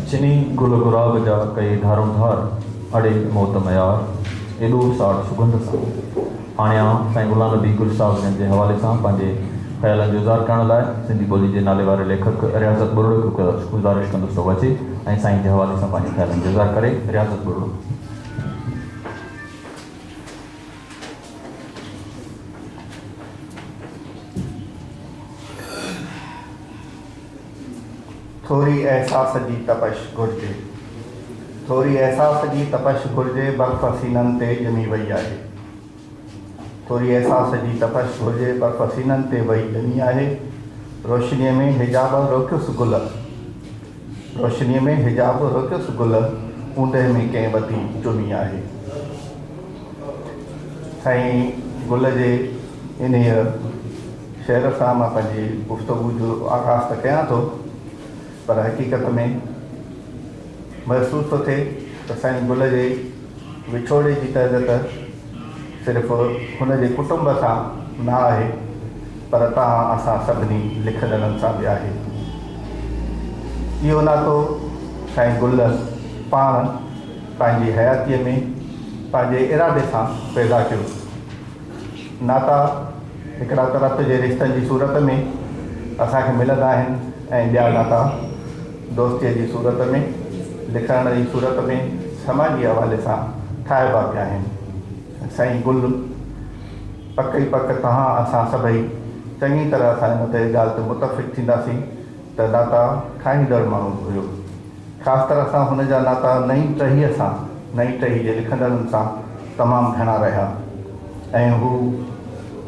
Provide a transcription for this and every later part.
چني گل گلاب جا ڪئي ڌارون ڌار، اڙي موت ميار ايڏو ساڙ سڳنڌ سان. هاڻي آئون سائين غلام نبي گل صاحب جن جي حوالي سان پنهنجي خيالن جو اظهار ڪرڻ لاء سنڌي ٻولي جي ناليواري ليکڪ رياضت ٻرڙو کي گذارش ڪندس ته هو اچي ۽ سائين جي حوالي سان پنهنجي خيالن جو اظهار ڪري. رياضت ٻرڙو. ٿوري احساس جي تپش گهرجي. ٿوري احساس جي تپش گهرجي برف سينن تي ڄمي وئي آهي. ٿوري احساس جي تپش گهرجي برف سينن تي وئي ڄمي آهي روشنيء ۾ حجاب روڪيس گل روشنيء ۾ حجاب روڪيس گل اوندهه ۾ ڪنهن وتي چمي آهي سائين گل جي انهيء شيرف سان مان پنهنجي گفتگو جو آغاز ته ڪيان ٿو پر حقيقت ۾ محسوس ٿو ٿئي ته سائين گل جي وڇوڙي جي درد ته صرف هن جي ڪٽنب سان نه آهي پر توهان اسان سڀني لکندڙن سان به آهي. اهو ناتو سائين گل پاڻ پنهنجي حياتيء ۾ پنهنجي ارادي سان پيدا ڪيو. ناتا هڪڙا ته رت جي رشتن جي صورت ۾ اسان کي ملندا آهن ۽ ٻيا ناتا دوستيء جي صورت ۾، لکڻ جي صورت ۾، سماجي حوالي سان ٺاهبا پيا آهن. سائين گل، پڪ ئي پڪ توهان اسان سڀئي چڱي طرح سان ان تي ڳالهه تي متفق ٿينداسين. ته ناتا ٺاهيندڙ ماڻهو به هيو. خاص طرح سان هن جا ناتا نئين ٽهيء سان، نئين ٽهيء جي لکندڙن سان تمام گهڻا رهيا ۽ هو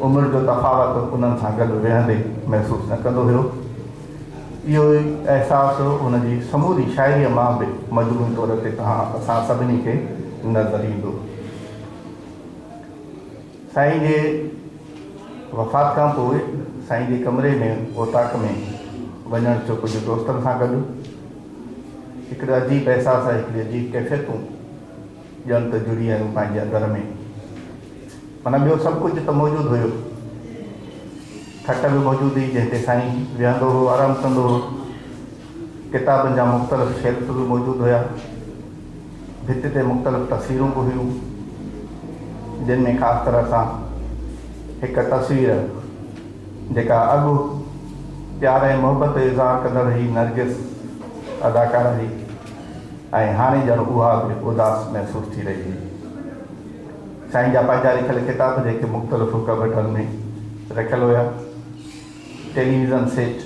عمر جو تفاوت انهن سان گڏ ويهندي محسوس نه ڪندو هيو. اهو ئي احساس هن جي سموري شاعريء مان به مجموعي طور تي توهان اسان سڀني کي نظر ايندو. سائين جي وفات کان پوء سائين جي ڪمري ۾ اوطاق ۾ وڃڻ ٿيو ڪجهه دوستن سان گڏ هڪڙي عجيب احساس ۽ هڪڙي عجيب ڪيفيتون ڄڻ ته جڙي آيون پنهنجي اندر ۾ معنيٰ ٻيو سڀ ڪجهه ته موجود هيو کٽ به موجود هئي جنهن تي سائين ويهندو هو آرام ڪندو هو ڪتابن جا مختلف شيلف به موجود هيا ڀت تي مختلف تصويرون به هيون جن ۾ خاص طرح سان هڪ تصوير جيڪا اڳ پيار ۽ محبت جو اظهار ڪندڙ هئي نرگس اداڪاره هئي ۽ هاڻي ڄڻ اها به اداس محسوس ٿي رهي هئي سائين جا پنهنجا لکيل ڪتاب جيڪي مختلف ڪٻٽن ۾ رکيل هيا. ٽيليويزن سيٽ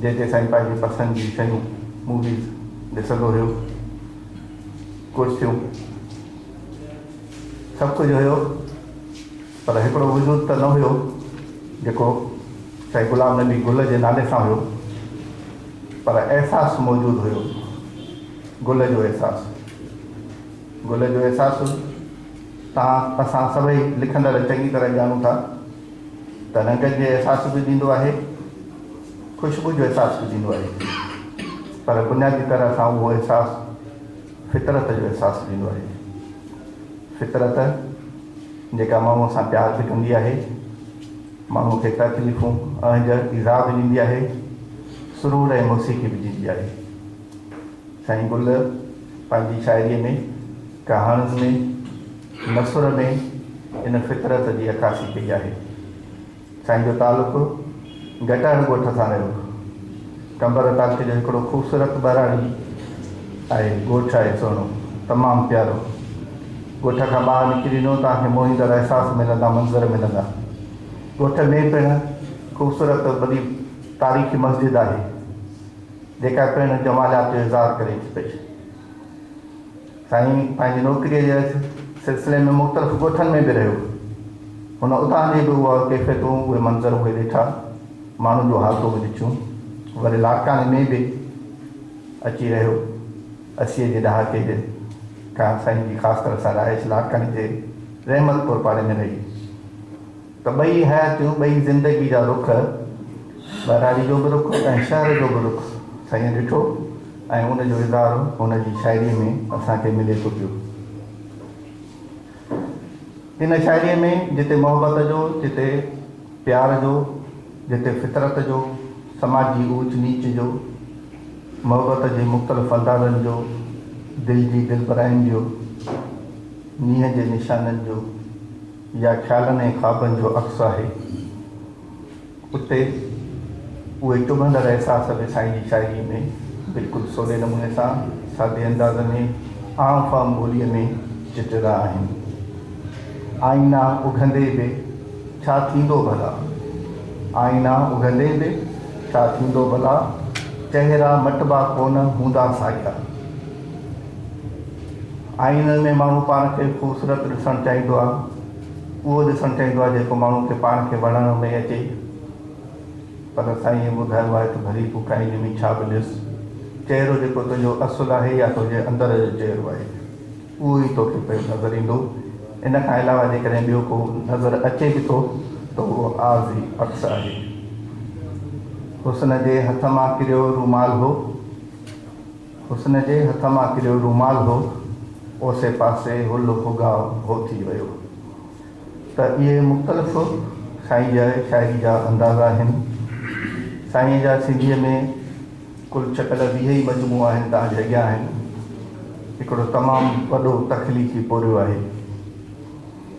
جتي سائين پنهنجي پسند جون شيون، موويز، ڏسندو هيو. ڪرسيون، سڀ ڪجهه هيو پر هڪڙو وجود ته نه هيو جيڪو سائين غلام نبي گل جي نالي سان هيو پر احساس موجود هيو گل جو احساس. گل جو احساس تان اسان سڀئي لکندڙ چڱي طرح ڄاڻون ٿا. ته رنگن جي احساس به ڏيندو آهي، خوشبو جو احساس به ڏيندو آهي، پر بنيادي طرح سان اهو احساس فطرت جو احساس ڏيندو آهي. فطرت جيڪا ماڻهوء سان پيار به ڪندي آهي، ماڻهوء کي تڪليفون، اهنج، ايذاء به ڏيندي آهي، سرور ۽ موسيقي به ڏيندي آهي. سائين گل پنهنجي شاعريء ۾، ڪهاڻين ۾، مصور ۾ ان فطرت جي عڪاسي ڪئي آهي. سائين جو تعلق گٽائڻ ڳوٺ سان رهيو. قمبر تعلقي جو هڪڙو خوبصورت ٻهراڙي آهي. ڳوٺ آهي سهڻو، تمام پيارو. ڳوٺ کان ٻاهر نڪريندو ته اوهان کي موهيندڙ احساس ملندا، منظر ملندا. ڳوٺ ۾ پڻ خوبصورت وڏي تاريخي مسجد آهي، جيڪا پڻ جماليات جو اظهار ڪري ٿي پئي. سائين پنهنجي نوڪريء جي سلسلي ۾ مختلف ڳوٺن ۾ به رهيو. هن اتان جي به اها ڪيفيتون، اهي منظر، اهي ڏٺا، ماڻهن جون حالتون به ڏٺيون. وري لاڙڪاڻي ۾ به اچي رهيو. اسيء جي ڏهاڪي جي کان سائين جي خاص طرح سان رهائش لاڙڪاڻي جي رحمت پور پاڙي ۾ رهي. ته ٻئي حياتيون، ٻئي زندگي جا رخ، ٻهراڙي جو به رخ ۽ شهر جو به رخ سائينء ڏٺو ۽ ان جو اظهار هن جي شاعريء ۾ اسان کي ملي ٿو پيو. ان شاعريء ۾ جتي محبت جو، جتي پيار جو، جتي فطرت جو، سماجي اوچ نيچ جو، محبت جي مختلف اندازن جو، دل جي دلبراين جو، نينهن جي نشانن جو، جا خيالن ۽ خوابن جو عڪس آهي. اتي اهي چڀندڙ احساس به سائين جي شاعريء ۾ بلڪل سولي نموني سان سادي انداز ۾ عام فهم ٻوليء ۾ چٽيرا آهن. آئينا اگهندي به ڇا ٿيندو ڀلا؟ آئينا اگهندي به ڇا ٿيندو ڀلا؟ چهرا مٽبا ڪونه هوندا ساڳيا. آئينن ۾ ماڻهو پاڻ کي خوبصورت ڏسڻ چاهيندو آهي. اهو ڏسڻ چاهيندو آهي جيڪو ماڻهو کي پاڻ کي وڻڻ ۾ اچي. پر سائينء ٻڌايو آهي ته ڀلي تون ڪنهن جي به ڇا به ڏس، چهرو جيڪو تنهنجو اصل آهي يا تنهنجي اندر جو چهرو آهي، اهو ئي توکي پيو نظر ايندو. ان کان علاوه جيڪڏهن ٻيو ڪو نظر اچي به ٿو ته اهو عارضي عڪس آهي. حسن جي هٿ مان ڪريو رومال هو. حسن جي هٿ مان ڪريو رومال هو، اوسي پاسي هل هوگا هو ٿي ويو. ته اهي مختلف سائين جي شاعري جا انداز آهن. سائين جا سنڌيء ۾ ڪل ڇڪل ويهه ئي مجموعا آهن توهان جي اڳيان آهن. هڪڙو تمام وڏو تخليقي پورهيو آهي.